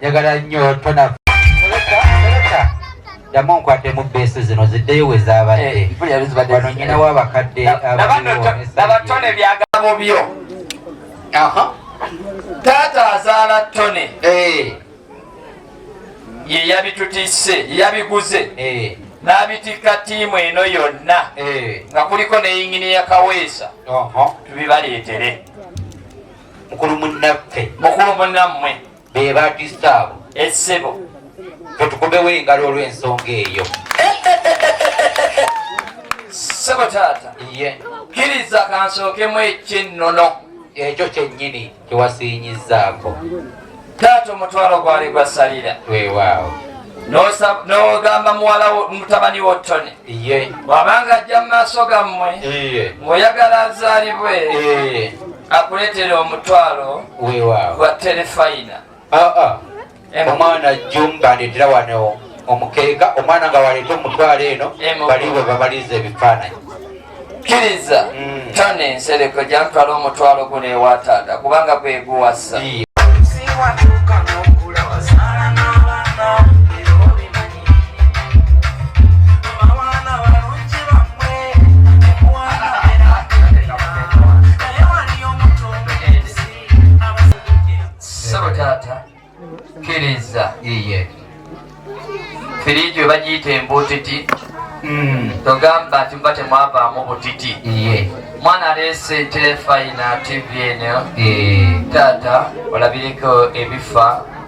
njagala nnyo tona ddamu nkwaddemu beesu zino ziddeyo we zaabadde eh, wano nyina w'abakadde ababatone byagabo byo taata azaala tone eh. ye yabitutise yabiguze eh. n'abitikka ttiimu eno yonna nga kuliko ne yingini ya kaweesa tubibaleetere mukulu munnaffe mukulu munnammwe be batista abo essebo tetukubewo engalo olw'ensonga eyo sebo taata ye kiriza kansookemu eky'ennono ekyo kyennyini kyewasiinyizaako taata omutwalo gwali gwasalira weewaawo nogamba muwala mutabani wo tony bwabanga ajja mu maaso gammwe ngoyagala azaalibwe akuleetera omutwalo gwa terefayina ah, ah. omwana jumbaletera wano omukeeka omwana nga waleeta omutwalo eno bali bwe babaliza ebifaananyi kkiriza mm. tone ensereko gyantwala omutwalo guno ewataata kubanga gweguwasa bagiyita embutiti hmm. togamba nti muba temwavaamu butiti mwana aleese telefayina tv eno taata olabireko ebifa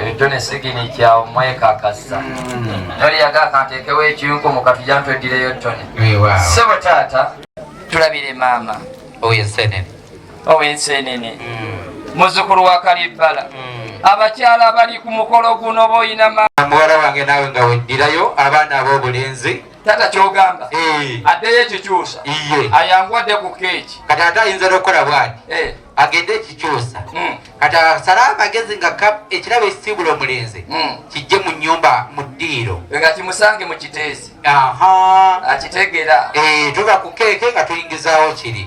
ebintu nesigini kyawo mwekakasa noli hmm. yagaka ntekewo ekiyunku mukatuja ntwedireyo tone sebo taata tulabire maama owensenene owensenene hmm. muzukulu wa kalibbala hmm. abakyala abali ku mukolo guno boyina muwala wange naawe nga weddirayo abaana ab'obulenzi tata kyogamba eh. addeyo ekikyusa ayangu adde ku keeki kati ate ayinza nokukola bwati eh. agende ekikyusa hmm. kati asale amagezi nga ekirabo ekisiibula omulenzi hmm. kijje mu nyumba mu ddiiro nga kimusange mu kiteezi akitegera eh, tuba ku keeke nga tuyingizaawo kiri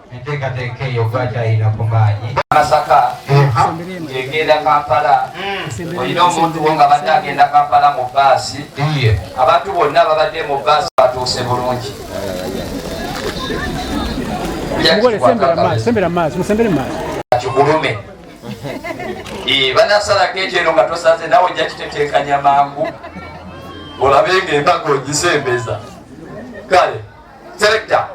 enteekateeka eyo gwakyayina ku maanyi masaka egenda kampala hmm. olina omuntu wo nga badde agenda kampala mu baasi abantu bonna babadde mu baasi batuuse bulungi kigulume banasalako ekyeno nga tosaze nawe ojja kiteteekanya mangu olabe nga embaga ogisembeza kale selekta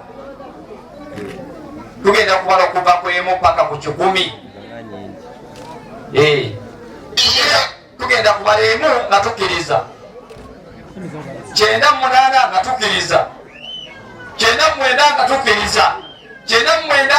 tugenda kubala okuva ku emu paka ku kikumi eh. tugenda kubala emu nga tukiriza kyenda munaana nga tukiriza kyenda mwenda nga tukiriza kyenda mwenda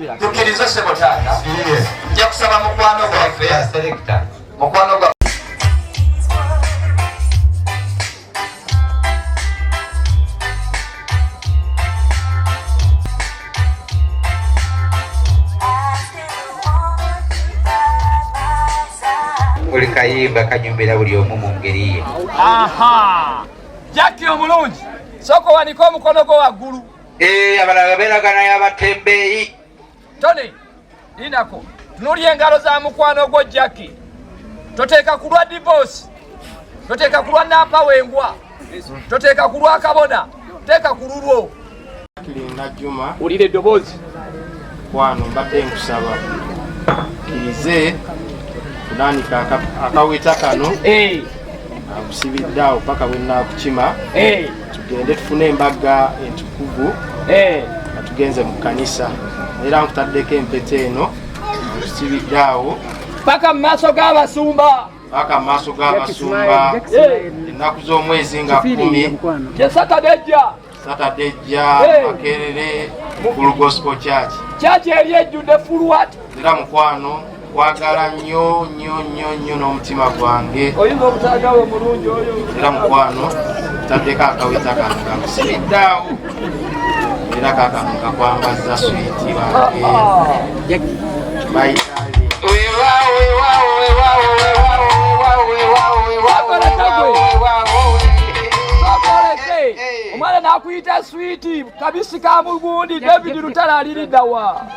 tukiriza sebo taata nja kusaba mukwano gwaffe mukwano gwa buli kayimba kanyumbira buli omu mu ngeri ye jaki omulungi sooka owanika omukono gwo waggulu Eh, abalala beeragana yabatembeeyi tony lindako tunuli engalo za mukwano gwo jacki toteeka ku lwa divoosi toteeka ku lwa nampa wengwa toteeka ku lwa kabona teeka ku lulwo kiringa juma wulira eddoboozi kwano mbadde nkusaba kirize kutandika akaweta kano eh. akusibidde awo paka bwenaakukima eh. tugende tufune embaga entukuvu eh. nga tugenze mu kanisa era nkutaddeko empeta eno nkusibidde awo paka mu maaso g'abasumba paka mu maaso g'abasumba ennaku z'omwezi nga kumi kyesatadejja satadejja makerere mukulu gospel church church eri ejjudde fulwat Era mukwano kwagala nnyo nnyo nnyo nnyo n'omutima gwange era mukwano taddeko akaweta kano kamusiriddaawo era kakano kakwambazza switi wange omwana nakuyita switi kabisi ka mugundi david lutala aliriddawa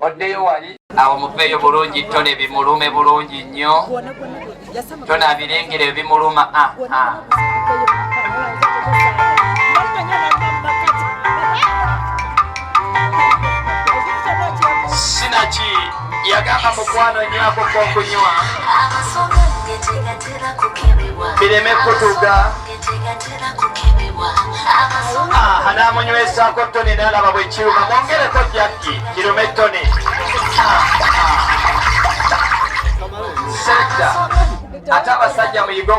oddeyo wali awo muveeyo bulungi tone bimulume bulungi nnyo tone abirengera ebimuluma ah, ah. sinaki yagamba mukwano nywako kokunywa bireme kutuga namunywesako toni nalaba bwekiruma mwongereko jakki kirume toni seda ate abasajja muyige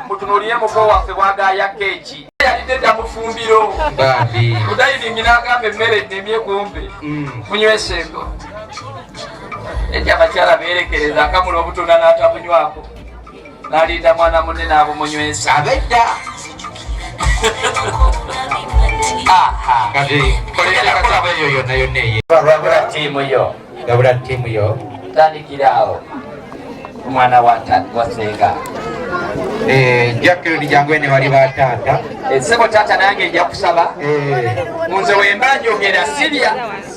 mutunulire muko waffe bwagaya keeki yalidde dda mufumbiro mudayiningi nagamba emmere nemye kumbe mm. munyweseko ekyabakyala beerekereza akamula obutunda n'atamunywako nalinda mwana munne n'abumunywesa abedda tiimu yo gabula tiimu yo tandikiraawo omwana wasenga eh, jacklin jangwene bali bataata esebo eh, taata nange nja kusaba eh. nze wembanjogera sirya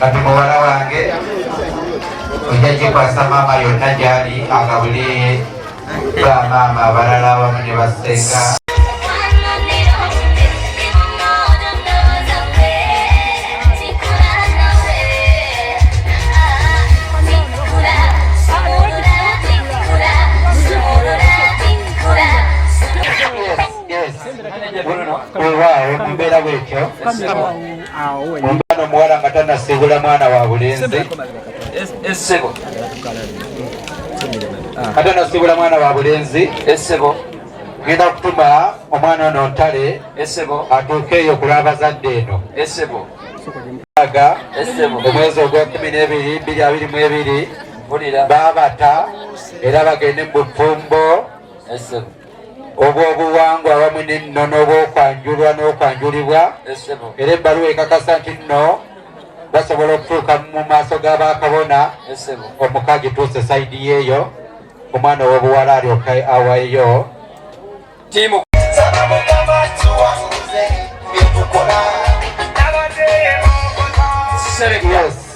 kati muwala wange ojja kikwasa maama yonna gyali agabule ba maama abalala abamu ne basenga Bruno, Uruguay, un Veragüecho. omwana omuwala nga tanasiibula mwana wa bulenzi essebo nga tanasiibula mwana wa bulenzi essebo genda okutuma omwana ono ntale essebo atuuke eyo kulwabazadde eno essebo aga omwezi ogwekumi n'ebiri biri abiri mu ebiri babata era bagende mu bufumbo obw'obuwangwa awamu n'ennono obw'okwanjulwa n'okwanjulibwa era ebbaluwa ekakasa nti nno basobola okutuuka mu maaso ga bakabona omuka gituuse sayidi yeeyo omwana ow'obuwala alyoka awaeyo tiimu Yes.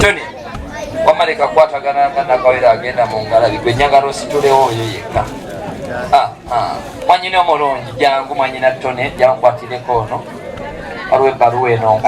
tony wamaleka kwatagana nga nakawera agenda mu ngalabi gwe nyagala ositulewo oyo yekka ah, ah. mwanyina omulungi jangu mwanyina tony jankwatireko ono waliwo ebbaluwa eno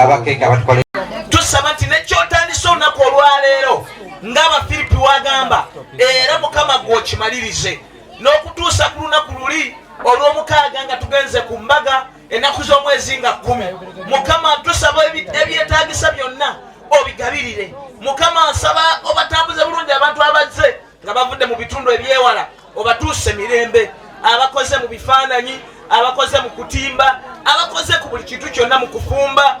tusaba nti nekyotandisa olunaku olwaleero ng'Abafiripi w'agamba, era Mukama gwe okimalirize n'okutuusa ku lunaku luli olw'omukaaga nga tugenze ku mbaga ennaku z'omwezi nga kkumi. Mukama tusaba ebyetaagisa byonna obigabirire. Mukama nsaba obatambuze bulungi abantu abazze nga bavudde mu bitundu eby'ewala. obatuuse mirembe abakoze mu bifaananyi abakoze mu kutimba abakoze ku buli kintu kyonna mu kufumba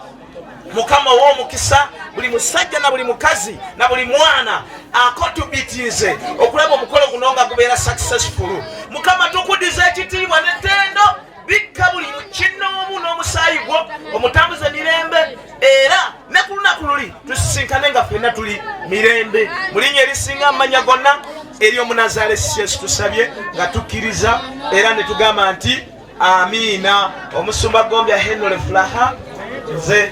mukama ow'omukisa buli musajja na buli mukazi na buli mwana akotubitiize okulaba omukolo guno nga gubeera successful mukama tukudiza ekitiibwa netendo bikka buli kinnoomu n'omusaayi gwo omutambuze mirembe era ne ku lunaku luli tusisinkane nga fenna tuli mirembe mu linnya erisinga amanya gonna eri omunazaala esikyesi tusabye nga tukkiriza era ne tugamba nti amiina omusumba gombya henole fulaha nze